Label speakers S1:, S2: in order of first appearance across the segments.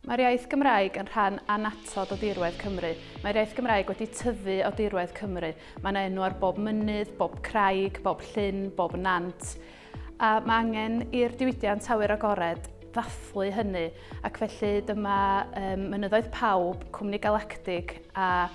S1: Mae'r iaith Gymraeg yn rhan annatod o dirwedd Cymru. Mae'r iaith Gymraeg wedi tyfu o dirwedd Cymru. Mae yna enw ar bob mynydd, bob craig, bob llyn, bob nant. A mae angen i'r diwydiant awyr agored ddathlu hynny ac felly dyma um, Mynyddoedd Pawb, Cwmni Galactig a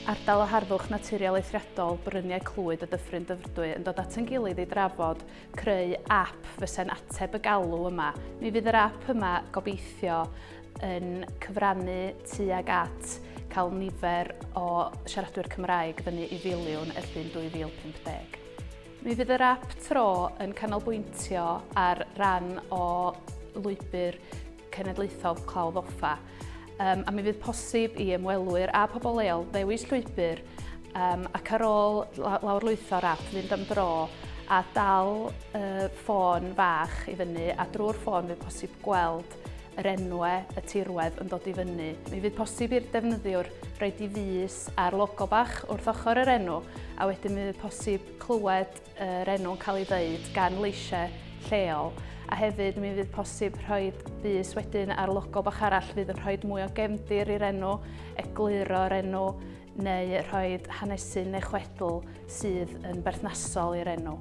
S1: Ardal o Harddwch Naturiol Eithriadol Bryniau Clwyd y Dyffryn Dyfrdwy yn dod at yn gilydd i drafod creu app fysa'n ateb y galw yma. Mi fydd yr app yma gobeithio yn cyfrannu tuag at cael nifer o siaradwyr Cymraeg fyny i filiwn y llun 2050. Mi fydd yr app tro yn canolbwyntio ar ran o lwybr Cenedlaethol Clawdd Offa, um, a mi fydd posib i ymwelwyr a pobl leol ddewis llwybr um, ac ar ôl lawrlwytho'r app fynd am dro a dal uh, ffôn fach i fyny a drwy'r ffôn fydd posib gweld yr enwe y tirwedd yn dod i fyny. Mi fydd posib i'r defnyddiwr roed i fus ar logo bach wrth ochr yr enw a wedyn mi fydd posib clywed yr enw'n cael ei ddeud gan leisiau lleol a hefyd mi fydd posib rhoi bus wedyn ar logo bach arall fydd yn rhoi mwy o gefndir i'r enw, egluro'r enw neu rhoi hanesu neu chwedl sydd yn berthnasol i'r enw.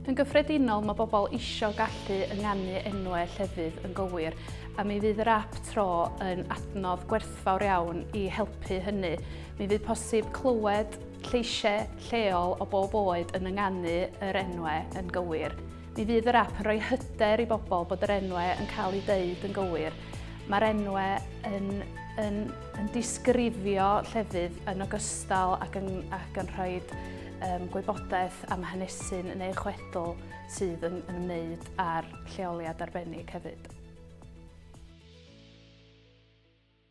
S1: Yn gyffredinol mae bobl eisiau gallu ynganu enwau llefydd yn gywir a mi fydd yr app tro yn adnodd gwerthfawr iawn i helpu hynny. Mi fydd posib clywed lleisiau lleol o bob oed yn ynganu yr enwau yn gywir. Mi fydd yr app yn rhoi hyder i bobl bod yr enwau yn cael eu deud yn gywir. Mae'r enwau yn, yn, yn disgrifio llefydd yn ogystal ac yn, ac yn rhoi um, gwybodaeth am hanesyn neu chwedl sydd yn, yn ymwneud â'r lleoliad arbennig hefyd.